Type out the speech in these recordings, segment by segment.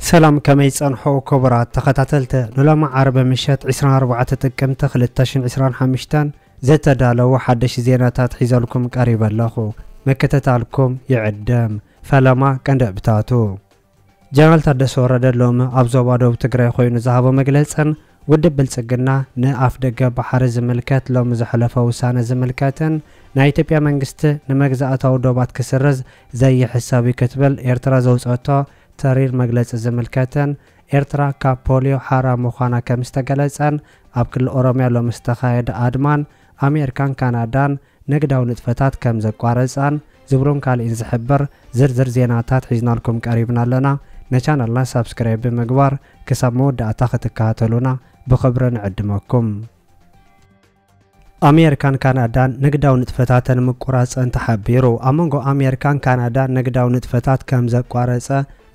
ሰላም ከመይ ጸንሖ ክቡራት ተኸታተልቲ ንሎሚ ዓርቢ ምሸት 24 ጥቅምቲ 2025 ዘተዳለዉ ሓደሽ ዜናታት ሒዘልኩም ቀሪበ ኣለኹ ምክትታልኩም ይዕድም ፈለማ ቀንደብታቱ ጀነራል ታደሰ ወረደ ሎሚ ኣብ ዞባ ደቡብ ትግራይ ኮይኑ ዝሃቦ መግለፅን ውድብ ብልፅግና ንኣፍደገ ባሕሪ ዝምልከት ሎሚ ዘሕለፎ ውሳነ ዝምልከትን ናይ ኢትዮጵያ መንግስቲ ንመግዛእታዊ ዶባት ክስርዝ ዘይሕሰብ እዩ ክትብል ኤርትራ ዘውፀኦቶ ተሪር መግለፂ ዝምልከትን ኤርትራ ካብ ፖልዮ ሓራ ምዃና ከምዝተገለፀን ኣብ ክልል ኦሮምያ ሎሚ ዝተኻየደ ኣድማን ኣሜርካን ካናዳን ንግዳዊ ንጥፈታት ከም ዘቋረጻን ዝብሉን ካልእን ዝሕብር ዝርዝር ዜናታት ሒዝናልኩም ቀሪብና ኣለና። ንቻነልና ሳብስክራይብ ብምግባር ክሳብ መወዳእታ ክትከታተሉና ብኽብሪ ንዕድመኩም። ኣሜርካን ካናዳን ንግዳዊ ንጥፈታተን ምቁራጸን ተሓቢሩ። ኣብ መንጎ ኣሜርካን ካናዳን ንግዳዊ ንጥፈታት ከም ዘቋረጸ፣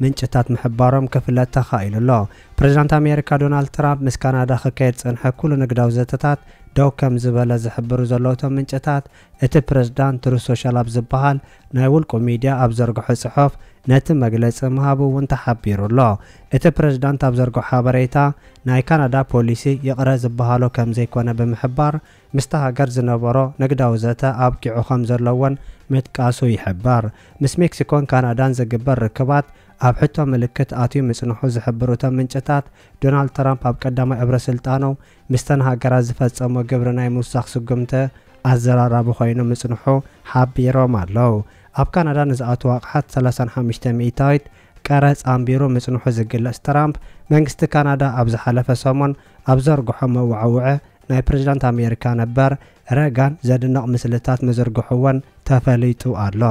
ምንጭታት ምሕባሮም ክፍለጥ ተኻኢሉ ኣሎ። ፕሬዝዳንት ኣሜሪካ ዶናልድ ትራምፕ ምስ ካናዳ ክካየድ ዝጸንሐ ኩሉ ንግዳዊ ዘተታት ደው ከምዝበለ ዝሕብሩ ዘለዉ እቶም ምንጭታት፣ እቲ ፕሬዝዳንት ትሩዝ ሶሻል ኣብ ዝበሃል ናይ ውልቁ ሚድያ ኣብ ዘርግሖ ጽሑፍ ነቲ መግለጺ ምሃቡ እውን ተሓቢሩ ኣሎ። እቲ ፕሬዝዳንት ኣብ ዘርግሖ ሓበሬታ ናይ ካናዳ ፖሊሲ ይቕረ ዝበሃሎ ከምዘይኮነ ብምሕባር፣ ምስቲ ሃገር ዝነበሮ ንግዳዊ ዘተ ኣብቂዑ ከም ዘሎ'ውን ምጥቃሱ ይሕበር። ምስ ሜክሲኮን ካናዳን ዝግበር ርክባት ኣብ ሕቶ ምልክት ኣትዩ ምጽንሑ ዝሕብሩ እቶም ምንጭታት፣ ዶናልድ ትራምፕ ኣብ ቀዳማይ እብረ ስልጣኑ ምስተን ሃገራት ዝፈጸሞ ግብሪ ናይ ምውሳኽ ስጉምቲ ኣዘራራቢ ኮይኑ ምጽንሑ ሓቢሮም ኣለው። ኣብ ካናዳ ንዝኣትዉ ኣቕሓት ሰላሳን ሓሙሽተ ሚእታዊት ቀረጽ ኣንቢሩ ምጽንሑ ዝግለጽ ትራምፕ፣ መንግስቲ ካናዳ ኣብ ዝሓለፈ ሰሙን ኣብ ዘርግሖ መወዓውዒ ናይ ፕሬዚዳንት ኣሜሪካ ነበር ረጋን ዘድንቕ ምስልታት ምዝርግሑ እውን ተፈሊጡ ኣሎ።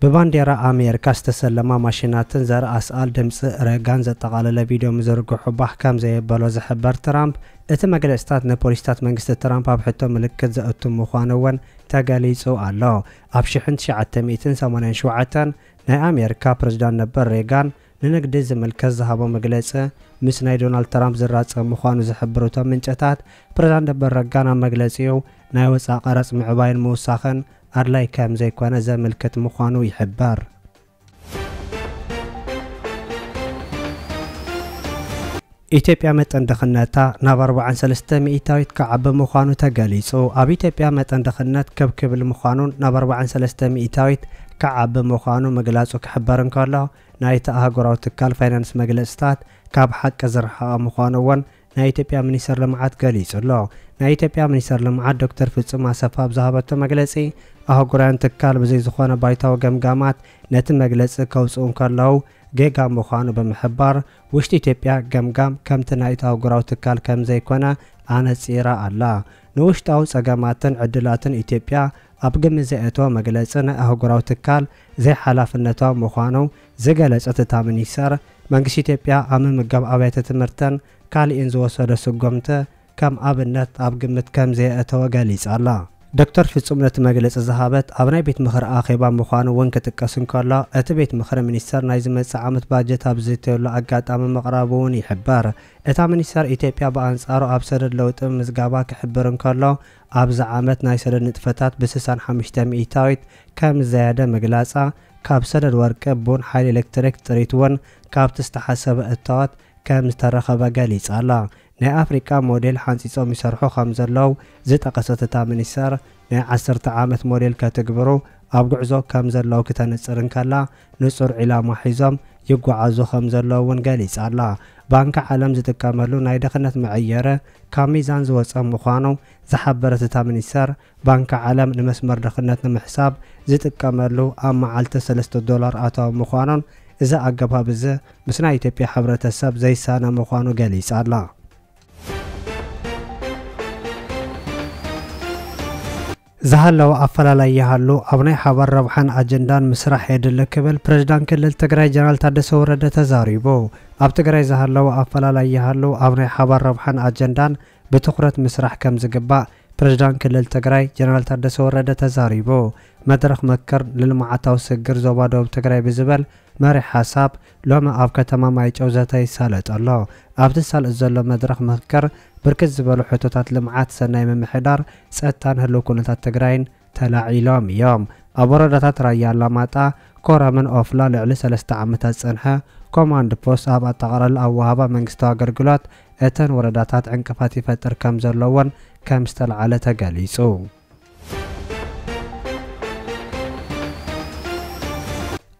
ብባንዴራ ኣሜሪካ ዝተሰለማ ማሽናትን ዘርኢ ኣስኣል ድምፂ ረጋን ዘጠቓለለ ቪድዮ ምዝርግሑ ባህ ከምዘየበሎ ዝሕበር ትራምፕ፣ እቲ መግለፂታት ንፖሊሲታት መንግስቲ ትራምፕ ኣብ ሕቶ ምልክት ዘእቱ ምዃኑ እውን ተገሊፁ ኣሎ። ኣብ ሽሕን ትሽዓተ ሚእትን ሰማንያን ሸውዓተን ናይ ኣሜሪካ ፕሬዚዳንት ነበር ሬጋን ንንግዲ ዝምልከት ዝሃቦ መግለጺ ምስ ናይ ዶናልድ ትራምፕ ዝራጸም ምዃኑ ዝሕብሩ እቶም ምንጨታት፣ ፕሬዝዳንት ነበር ረጋን ኣብ መግለጺኡ ናይ ወጻኢ ቀረጽ ምዕባይን ምውሳኽን ኣድላይ ከም ዘይኮነ ዘምልክት ምዃኑ ይሕበር። ኢትዮጵያ መጠን ድኽነታ ናብ ኣርብዓን ሰለስተ ሚኢታዊት ክዓቢ ምዃኑ ተገሊጹ ኣብ ኢትዮጵያ መጠን ድኽነት ክብ ክብል ምዃኑን ናብ ኣርብዓን ሰለስተ ሚኢታዊት ክዓቢ ምዃኑ ምግላጹ ክሕበር እንከሎ፣ ናይቲ ኣህጉራዊ ትካል ፋይናንስ መግለጽታት ካብ ሓቂ ዝረሓቐ ምዃኑ እውን ናይ ኢትዮጵያ ሚኒስተር ልምዓት ገሊጹ ኣሎ። ናይ ኢትዮጵያ ሚኒስተር ልምዓት ዶክተር ፍጹም ኣሰፋ ኣብ ዝሃበቶ መግለጺ፣ ኣህጉራውያን ትካል ብዘይ ዝኾነ ባይታዊ ገምጋማት ነቲ መግለጺ ከውጽኡ እንከለዉ ጌጋ ምዃኑ ብምሕባር፣ ውሽጢ ኢትዮጵያ ገምጋም ከምቲ ናይቲ ኣህጉራዊ ትካል ከምዘይኮነ ኣነጺራ ኣላ። ንውሽጣዊ ጸገማትን ዕድላትን ኢትዮጵያ ኣብ ግምት ዘየእተወ መግለፂ ናይ ኣህጉራዊ ትካል ዘይሓላፍነታዊ ምዃኑ ዝገለፀት እታ ሚኒስተር፣ መንግስቲ ኢትዮጵያ ኣብ ምምጋብ ኣብያተ ትምህርትን ካሊእን ዝወሰዶ ስጎምቲ ከም ኣብነት ኣብ ግምት ከምዘየእተወ ገሊፃ'ላ። ዶክተር ፍፁም ነቲ መግለፂ ዝሃበት ኣብ ናይ ቤት ምኽሪ ኣኼባ ምዃኑ እውን ክጥቀስ እንከሎ፣ እቲ ቤት ምኽሪ ሚኒስተር ናይ ዝመፅእ ዓመት ባጀት ኣብ ዝዝተየሉ ኣጋጣሚ ምቕራቡ እውን ይሕበር። እታ ሚኒስተር ኢትዮጵያ ብኣንፃሩ ኣብ ሰደድ ለውጢ ምምዝጋባ ክሕብር እንከሎ፣ ኣብዚ ዓመት ናይ ሰደድ ንጥፈታት ብስሳን ሓሙሽተ ሚኢታዊት ከምዝዘያደ ምግላጻ፣ ካብ ሰደድ ወርቂ፣ ቡን፣ ሓይሊ ኤሌክትሪክ፣ ጥሪት ውን ካብቲ ዝተሓሰበ እታወት ከምዝተረኸበ ገሊጻ'ላ። ናይ ኣፍሪቃ ሞዴል ሓንጺጾም ይሰርሑ ከምዘለው ዝጠቐሰት እታ ሚኒስተር፣ ናይ ዓሰርተ ዓመት ሞዴል ከትግብሩ ኣብ ጉዕዞ ከምዘለው ክተንጽር እንከላ፣ ንጹር ዒላማ ሒዞም ይጓዓዙ ከም ዘለዉ እውን ገሊጻ ኣላ። ባንኪ ዓለም ዝጥቀመሉ ናይ ድኽነት መዐየሪ ካብ ሚዛን ዝወጸ ምዃኑ ዝሓበረት እታ ሚኒስተር፣ ባንኪ ዓለም ንመስመር ድኽነት ንምሕሳብ ዝጥቀመሉ ኣብ መዓልቲ ሰለስተ ዶላር ኣታዊ ምዃኑን እዚ ኣገባብ እዚ ምስ ናይ ኢትዮጵያ ሕብረተሰብ ዘይሳነ ምዃኑ ገሊጻ ኣላ። ዝሃለወ ኣፈላላይ ይሃሉ፣ ኣብ ናይ ሓባር ረብሓን ኣጀንዳን ምስራሕ የድሊ ክብል ፕሬዝዳንት ክልል ትግራይ ጀነራል ታደሰ ወረደ ተዛሪቡ። ኣብ ትግራይ ዝሃለወ ኣፈላላይ ይሃሉ፣ ኣብ ናይ ሓባር ረብሓን ኣጀንዳን ብትኹረት ምስራሕ ከምዝግባእ ፕሬዝዳንት ክልል ትግራይ ጀነራል ታደሰ ወረደ ተዛሪቡ። መድረኽ ምክክር ንልምዓታዊ ስግግር ዞባ ደቡብ ትግራይ ብዝበል መሪሕ ሓሳብ፣ ሎሚ ኣብ ከተማ ማይጨው ዘተ ይሳለጥ ኣሎ። ኣብ'ቲ ዝሳለጥ ዘሎ መድረኽ ምኽክር ብርክት ዝበሉ ሕቶታት ልምዓት፣ ሰናይ ምምሕዳር፣ ፀጥታን ህልው ኩነታት ትግራይን ተላዒሎም እዮም። ኣብ ወረዳታት ራያ ኣላማጣ፣ ኮረምን ኦፍላ ልዕሊ ሰለስተ ዓመታት ዝፀንሐ ኮማንድ ፖስት ኣብ ኣጠቓላላ ኣወሃህባ መንግስታዊ ኣገልግሎት እተን ወረዳታት ዕንቅፋት ይፈጥር ከምዘሎ እውን ከምዝተልዓለ ተገሊፁ።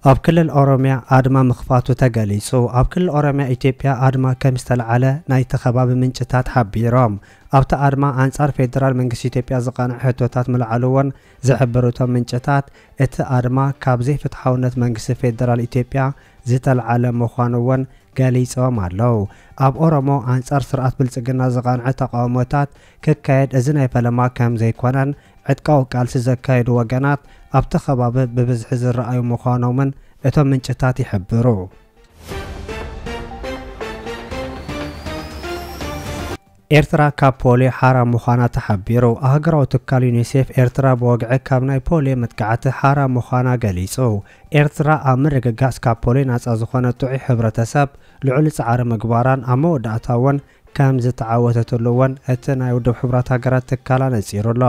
ኣብ ክልል ኦሮሚያ ኣድማ ምኽፋቱ ተገሊፁ። ኣብ ክልል ኦሮሚያ ኢትዮጵያ ኣድማ ከም ዝተልዓለ ናይቲ ከባቢ ምንጭታት ሓቢሮም። ኣብቲ ኣድማ ኣንፃር ፌዴራል መንግስቲ ኢትዮጵያ ዝቐንዐ ሕቶታት ምልዓሉ እውን ዝሕብሩ እቶም ምንጭታት እቲ ኣድማ ካብ ዘይፍትሓውነት መንግስቲ ፌዴራል ኢትዮጵያ ዝተልዓለ ምዃኑ እውን ገሊፆም ኣለው። ኣብ ኦሮሞ ኣንፃር ስርዓት ብልፅግና ዝቐንዐ ተቓውሞታት ክካየድ እዚ ናይ ፈለማ ከም ዘይኮነን ዕጥቃዊ ቃልሲ ዘካይዱ ወገናት ኣብቲ ከባቢ ብብዝሒ ዝረኣዩ ምዃኖምን እቶም ምንጭታት ይሕብሩ። ኤርትራ ካብ ፖሊዮ ሓራ ምዃና ተሓቢሩ። ኣህጉራዊ ትካል ዩኒሴፍ ኤርትራ ብወግዒ ካብ ናይ ፖሊዮ መጥቃዕቲ ሓራ ምዃና ገሊጹ። ኤርትራ ኣብ ምርግጋጽ ካብ ፖሊዮ ናጻ ዝኾነ ጥዑይ ሕብረተሰብ ልዑል ጻዕሪ ምግባራን ኣብ መወዳእታ እውን ከም ዝተዓወተትሉ'ውን እቲ ናይ ውድብ ሕቡራት ሃገራት ትካል ኣነጺሩ ኣሎ።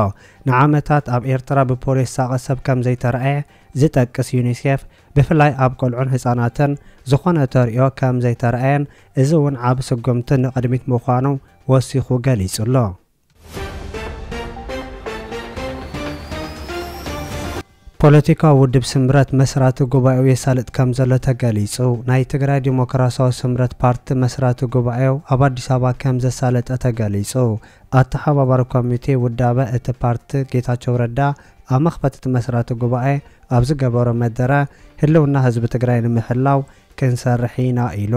ንዓመታት ኣብ ኤርትራ ብፖልዮ ዝሳቐ ሰብ ከም ዘይተራእየ ዝጠቅስ ዩኒሴፍ፣ ብፍላይ ኣብ ቆልዑን ህጻናትን ዝኾነ ተርእዮ ከም ዘይተራእየን፣ እዚ'ውን ዓቢ ስጉምቲ ንቕድሚት ምዃኑ ወሲኹ ገሊጹ'ሎ። ፖለቲካዊ ውድብ ስምረት መስራቲ ጉባኤኡ የሳልጥ ከምዘሎ ተገሊፁ። ናይ ትግራይ ዲሞክራሲያዊ ስምረት ፓርቲ መስራቲ ጉባኤኡ ኣብ ኣዲስ ኣበባ ከምዘሳለጠ ተገሊፁ። ኣተሓባባሪ ኮሚቴ ውዳበ እቲ ፓርቲ ጌታቸው ረዳ ኣብ መኽፈቲ እቲ መስራቲ ጉባኤ ኣብ ዝገበሮ መደረ ህልውና ህዝቢ ትግራይ ንምሕላው ክንሰርሕ ኢና ኢሉ።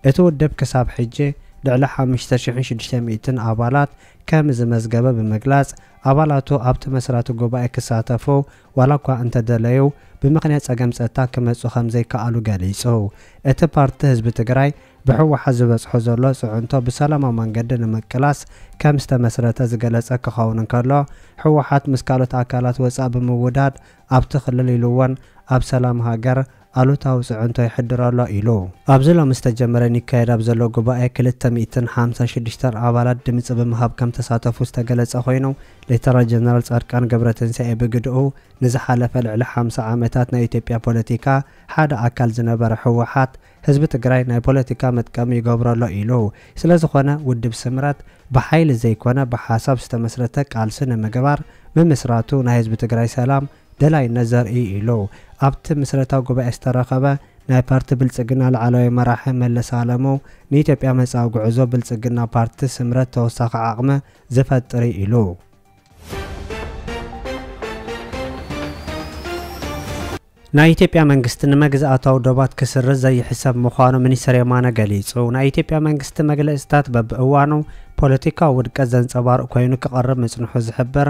እቲ ውድብ ክሳብ ሕጂ ልዕሊ ሓሙሽተ ሽሕን ሽዱሽተ ሚእትን ኣባላት ከምዝመዝገበ ብምግላፅ፣ ኣባላቱ ኣብቲ መስራቲ ጉባኤ ክሳተፉ ዋላ እኳ እንተደለዩ ብምኽንያት ፀገም ፀጥታ ክመፁ ከምዘይከኣሉ ገሊፁ። እቲ ፓርቲ ህዝቢ ትግራይ ብህወሓት ዝበፅሖ ዘሎ ፅዕንቶ ብሰላማዊ መንገዲ ንምቅላስ ከምዝተመስረተ ዝገለፀ ክኸውን እንከሎ፣ ህወሓት ምስ ካልኦት ኣካላት ወፃእ ብምውዳድ ኣብቲ ክልል ኢሉ'ውን ኣብ ሰላም ሃገር ኣሉታዊ ፅዕንቶ የሕድር ኣሎ ኢሉ። ኣብዚ ሎሚ ዝተጀመረ ኒካየድ ኣብ ዘሎ ጉባኤ ክልተ ሚእትን ሓምሳን ሽዱሽተን ኣባላት ድምፂ ብምሃብ ከምተሳተፉ ዝተገለፀ ኮይኑ ሌተናል ጀነራል ፃድቃን ገብረትንሳኤ ብግደኡ ንዝሓለፈ ልዕሊ ሓምሳ ዓመታት ናይ ኢትዮጵያ ፖለቲካ ሓደ ኣካል ዝነበረ ህወሓት ህዝቢ ትግራይ ናይ ፖለቲካ መጥቀሚ ይገብሮ ኣሎ ኢሉ። ስለዝኾነ ውድብ ስምረት ብሓይሊ ዘይኮነ ብሓሳብ ዝተመስረተ ቃልሲ ንምግባር ምምስራቱ ናይ ህዝቢ ትግራይ ሰላም ደላይነት ዘርኢ እዩ ኢሉ። ኣብቲ ምስረታ ጉባኤ ዝተረኸበ ናይ ፓርቲ ብልፅግና ላዕለዎይ መራሒ መለስ ኣለሙ ንኢትዮጵያ መፃኢ ጉዕዞ ብልፅግና ፓርቲ ስምረት ተወሳኺ ዓቕሚ ዝፈጥር እዩ ኢሉ። ናይ ኢትዮጵያ መንግስቲ ንመግዛኣታዊ ዶባት ክስርዝ ዘይሕሰብ ምዃኑ ሚኒስትር የማነ ገሊፁ። ናይ ኢትዮጵያ መንግስቲ መግለፅታት በብእዋኑ ፖለቲካዊ ውድቀት ዘንፀባርቕ ኮይኑ ክቐርብ ምፅንሑ ዝሕብር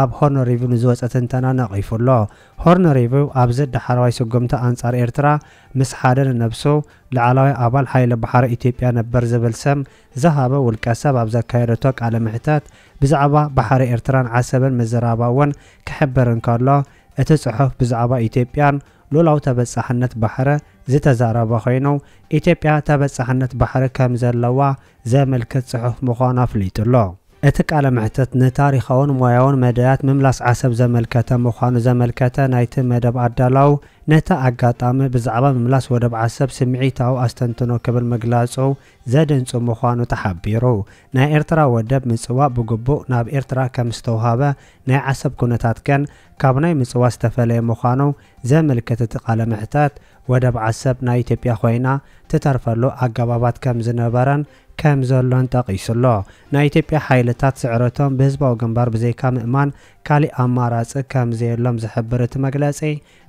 ኣብ ሆርን ሪቪው ንዝወጸ ትንተና ነቒፉ ኣሎ። ሆርን ሪቪው ኣብዚ ዳሕረዋይ ስጉምቲ ኣንጻር ኤርትራ ምስ ሓደ ንነብሱ ላዕላዋይ ኣባል ሓይሊ ባሕሪ ኢትዮጵያ ነበር ዝብል ስም ዝሃበ ውልቀሰብ ኣብ ዘካየደቶ ቃለ መሕተት ብዛዕባ ባሕሪ ኤርትራን ዓሰብን ምዝራባ'ውን ክሕብር እንከሎ እቲ ጽሑፍ ብዛዕባ ኢትዮጵያን ሉላዊ ተበጻሕነት ባሕሪ ዝተዛረበ ኮይኑ ኢትዮጵያ ተበጻሕነት ባሕሪ ከምዘለዋ ዘመልክት ጽሑፍ ምዃኑ ኣፍሊጡ ኣሎ። እቲ ቃለ መሕትት ንታሪኻውን ሞያውን መዳያት ምምላስ ዓሰብ ዘመልከተ ምዃኑ ዘመልከተ ናይቲ መደብ ኣዳላው፣ ነቲ ኣጋጣሚ ብዛዕባ ምምላስ ወደብ ዓሰብ ስምዒታዊ ኣስተንትኖ ክብል ምግላጹ ዘድንጹ ምዃኑ ተሓቢሩ። ናይ ኤርትራ ወደብ ምጽዋዕ ብግቡእ ናብ ኤርትራ ከም ዝተውሃበ፣ ናይ ዓሰብ ኩነታት ግን ካብ ናይ ምጽዋ ዝተፈለየ ምዃኑ ዘምልክት እቲ ቃለ መሕተት፣ ወደብ ዓሰብ ናይ ኢትዮጵያ ኮይና ትተርፈሉ ኣገባባት ከም ዝነበረን ከም ዘሎን ጠቒሱ ኣሎ። ናይ ኢትዮጵያ ሓይልታት ስዕረቶም ብህዝባዊ ግንባር ብዘይካ ምእማን ካሊእ ኣማራጺ ከም ዘየሎም ዝሕብር እቲ መግለጺ፣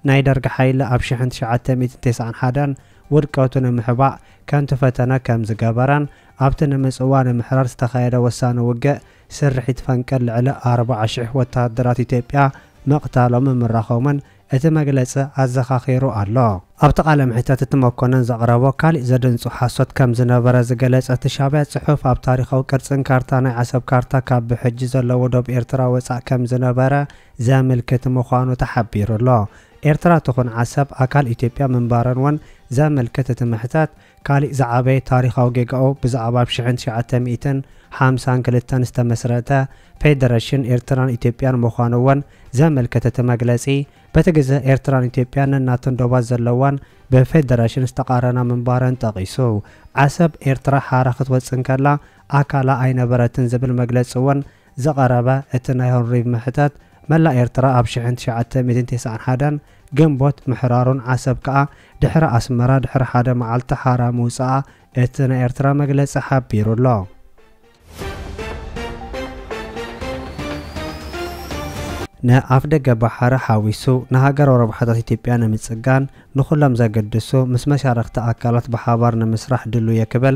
ናይ ደርግ ሓይሊ ኣብ ሽሕን ትሽዓተ ሚእትን ተስዓን ሓደን ውድቀቱ ንምሕባእ ከንቱ ፈተነ ከም ዝገበረን ኣብቲ ንምጽዋ ንምሕራር ዝተኻየደ ወሳኒ ውግእ ስርሒት ፈንቅል ልዕሊ ኣርብዓ ሽሕ ወተሃደራት ኢትዮጵያ ምቕታሎምን ምራኾምን እቲ መግለጺ ኣዘኻኺሩ ኣሎ። ኣብቲ ቃለ መሕተት እቲ መኮነን ዘቕረቦ ካሊእ ዘደንጹ ሓሶት ከም ዝነበረ ዝገለጸ እቲ ሻቢያ ጽሑፍ ኣብ ታሪኻዊ ቅርጽን ካርታ ናይ ዓሰብ ካርታ ካብ ብሕጂ ዘለዎ ዶብ ኤርትራ ወጻእ ከም ዝነበረ ዘምልክት ምዃኑ ተሓቢሩ ኣሎ። ኤርትራ ትኹን ዓሰብ ኣካል ኢትዮጵያ ምንባረን ውን ዘምልክት እቲ መሕተት ካሊእ ዝዓበየ ታሪኻዊ ጌጋኡ ብዛዕባ ብ ሽሕን ትሽዓተ ሚእትን ሓምሳን ክልተን ዝተመስረተ ፌደረሽን ኤርትራን ኢትዮጵያን ምዃኑ እውን ዘመልከተ እቲ መግለጺ በቲ ግዘ ኤርትራን ኢትዮጵያን ነናተን ዶባት ዘለዋን ብፌደረሽን ዝተቓረና ምንባረን ጠቒሱ ዓሰብ ኤርትራ ሓራ ክትወጽእ እንከላ ኣካላ ኣይነበረትን ዝብል መግለጺ እውን ዝቐረበ እቲ ናይ ሆርንሪቭ ምሕታት፣ መላእ ኤርትራ ኣብ ሽሕን ትሽዓተ ሚእትን ቴስዓን ሓደን ግንቦት ምሕራሩን ዓሰብ ከኣ ድሕሪ ኣስመራ ድሕሪ ሓደ መዓልቲ ሓራ ምውጽኣ እቲ ናይ ኤርትራ መግለጺ ሓቢሩ ኣሎ። ንኣፍደገ ባሕሪ ሓዊሱ ንሃገራዊ ረብሓታት ኢትዮጵያ ንምጽጋን ንኹሎም ዘግድሱ ምስ መሻርኽቲ ኣካላት ብሓባር ንምስራሕ ድሉው'የ ክብል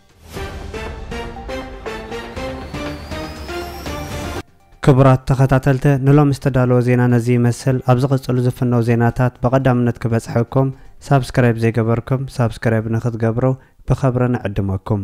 ክቡራት ተኸታተልተ ንሎሚ ዝተዳለወ ዜና ነዚ ይመስል ኣብ ዝቕጽሉ ዝፍነው ዜናታት ብቐዳምነት ክበጽሐኩም ሳብስክራይብ ዘይገበርኩም ሳብስክራይብ ንክትገብሩ ብኸብሪ ንዕድመኩም